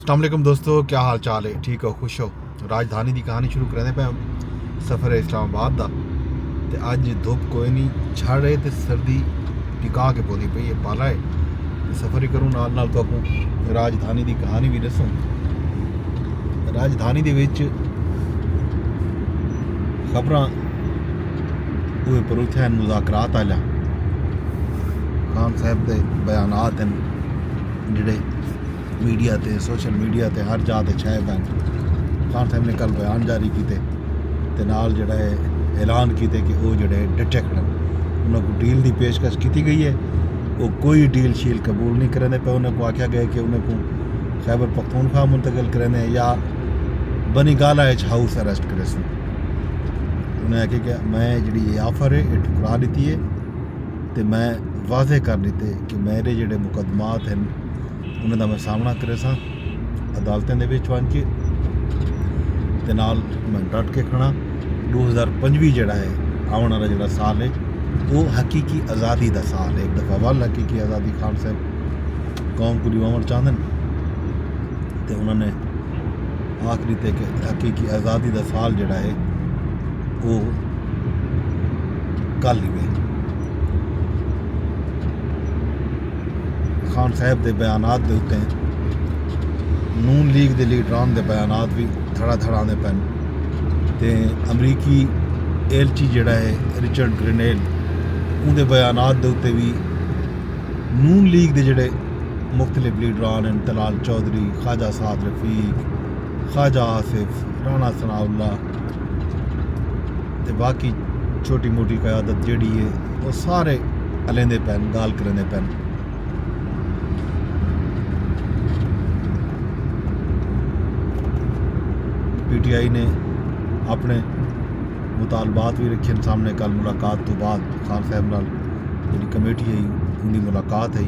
السلام علیکم دوستو کیا حال چال ہے ٹھیک ہو خوش ہو راجدھانی دی کہانی شروع کریں پہ سفر اسلام آباد دا تے اج دھوپ کوئی نہیں جھڑ ہے تے سردی ٹکا کے بولی پئی ہے پالا ہے تے سفر ہی کروں نال نال تو راجدھانی دی کہانی بھی دسوں راجدھانی دے وچ خبراں اوہ پروتھے ہیں مذاکرات آلیا خان صاحب دے بیانات ہیں جڑے میڈیا تے سوشل میڈیا تے ہر جاہ تے چھائے پن خان صاحب نے کل بیان جاری کیتے تے نال جڑا ہے اعلان کیتے کہ وہ جڑا ہے ڈٹے کھڑے انہوں کو ڈیل دی پیشکش کیتی گئی ہے وہ کوئی ڈیل شیل قبول نہیں کرنے پہ انہوں کو آکھیا گئے کہ انہوں کو خیبر پختونخوا منتقل کرنے یا بنی گالا اچ ہاؤس اریسٹ کرے سن انہوں نے کہ میں جڑی یہ آفر ہے یہ ٹھکرا دیتی ہے تے میں واضح کر دیتے کہ میرے جڑے مقدمات ہیں انہاں دا میں سامنا کریساں عدالتیں دے وچ ونج کے تے نال میں ڈٹ کے کھڑا ڈو ہزار پنجوی جڑا ہے آون والا جڑا سال ہے او حقیقی آزادی دا سال ہے ایک دفعہ ول حقیقی آزادی خان صاحب قوم کو دیواون چاہندن تے انہاں نے آخری تے کہ حقیقی آزادی دا سال جڑا ہے او کل ہی ہے خان صاحب دے بیانات دے اتے نون لیگ دے لیڈران دے بیانات بھی دھڑا دھڑا آندے پن تے امریکی ایلچی جڑا ہے رچرڈ گرینیل ان دے بیانات دے اتے بھی نون لیگ دے جڑے مختلف لیڈران ہیں تلال چودھری خواجہ سعد رفیق خواجہ آصف رانا ثناء اللہ تے باقی چھوٹی موٹی قیادت جیڑی ہے وہ سارے الیندے پین گال کریندے پین پی ٹی آئی نے اپنے مطالبات بھی رکھے سامنے کل ملاقات تو بعد خان صاحب نال جی کمیٹی آئی ان کی ملاقات آئی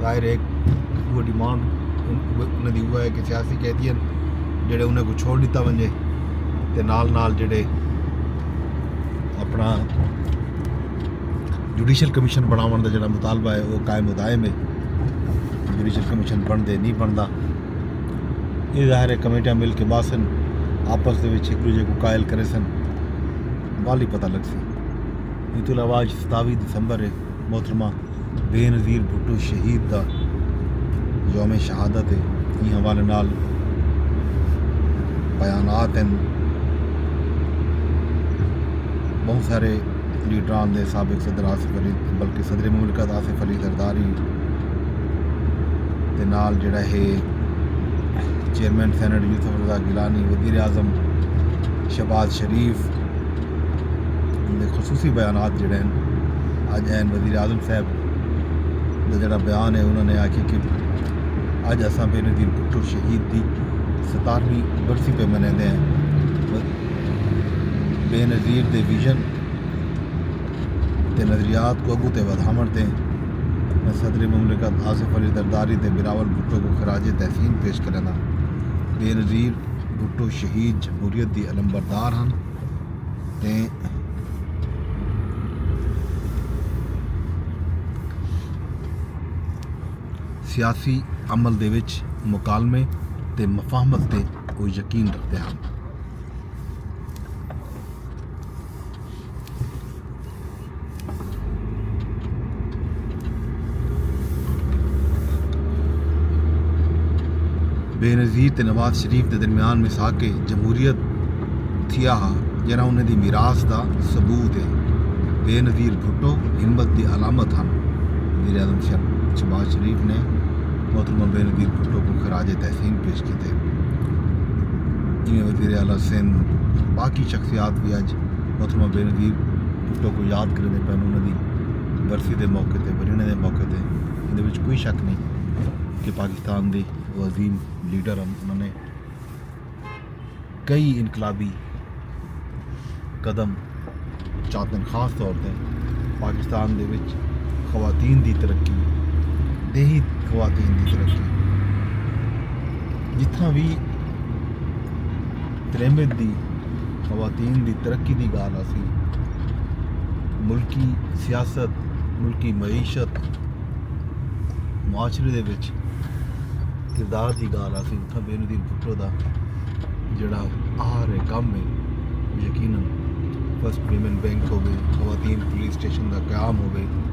ظاہر ہے وہ ڈیمانڈ انہاں دی ہوا ہے کہ سیاسی قیدی ہیں جڑے انہاں کو چھوڑ دیتا ونجے تے نال نال جڑے اپنا جوڈیشل کمیشن بناون دا جڑا مطالبہ ہے وہ قائم و دائم ہے جوڈیشل کمیشن بن دے نہیں بندا یہ ظاہر ہے کمیٹیاں مل کے باسن آپس دے وچ ایک دوجے کو قائل کرے سن والی پتہ لگ سی یہ تو علاوہ 27 دسمبر ہے محترمہ بینظیر بھٹو شہید دا یوم شہادت اے ایں حوالے نال بیانات ہن بہوں سارے لیڈران دے سابق صدر آصف علی بلکہ صدر مملکت آصف علی زرداری دے نال جڑا ہے چیئرمین سینٹ یوسف رضا گیلانی وزیر اعظم شہباز شریف جیندے خصوصی بیانات جیڑے ہن اج این وزیر اعظم صاحب دا جیڑا بیان ہے انہوں نے آکھیا کہ اج اساں بے نظیر بھٹو شہید دی ستارویں برسی پہ منیندے ہیں بے نظیر دے ویژن تے نظریات کو اگوں تے ودھاوݨ تے میں صدر مملکت آصف علی زرداری تے بلاول بھٹو کو خراج تحسین پیش کریندا بے نظیر بھٹو شہید جمہوریت دی علمبردار ہن تے سیاسی عمل دے وچ مکالمے تے مفاہمت تے او یقین رکھدے ہن۔ بینظیر تے نواز شریف دے درمیان مساک جمہوریت تھیا ہا جڑا انہیں دی میراث دا ثبوت ہے بے نظیر بھٹو ہمت دی علامت ہن وزیر اعظم شہباز شریف نے محترمہ بے نظیر بھٹو کو خراج تحسین پیش کیتے جی وزیر اعلیٰ سندھ باقی شخصیات بھی اج محترمہ بے نظیر بھٹو کوں یاد کریندے پن انہاں دی برسی دے موقع تے ورینہ دے موقع تے ایندے وچ کوئی شک نہیں کہ پاکستان دے وہ عظیم لیڈر ہن انہاں نے کئی انقلابی قدم چاتن خاص طور تے پاکستان دے وچ خواتین دی ترقی دیہی خواتین دی ترقی جتھاں بھی تریمت دی خواتین دی ترقی دی گالھ آسی۔ ملکی سیاست، ملکی معیشت، معاشرے دے وچ کردار دی گالھ آسی۔ اتھاں بینو دین بھٹو دا جیڑا آہر ہے کم ہے یقینا فرسٹ ویمن بینک ہووے، خواتین پولیس اسٹیشن دا قیام ہووے۔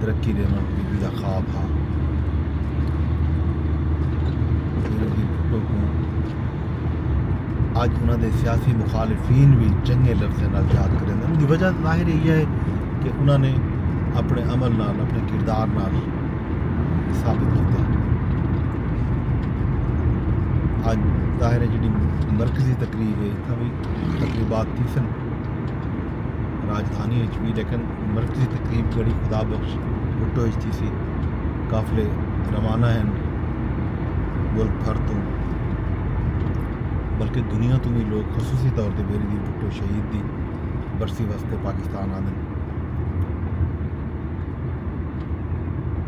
ترقی ݙیوݨ بی بی دا خواب ہا اڄ انہاں دے سیاسی مخالفین وی چنگے لفظیں نال یاد کریں ان دی وجہ ظاہر یہ ہے کہ انہاں نے اپنے عمل نال اپنے کردار نال ثابت کیتا ہے اج ظاہر ہے جڑی مرکزی تقریب ہے تقریبات تھی سن راجدھانی اچ وی لیکن مرکزی تقریب جڑی خدا بخش بھٹو اچ تھیسی قافلے روانہ ہن ملک بھر توں بلکہ دنیا توں وی لوگ خصوصی طور تے بیری دی بھٹو شہید دی برسی واسطے پاکستان آندن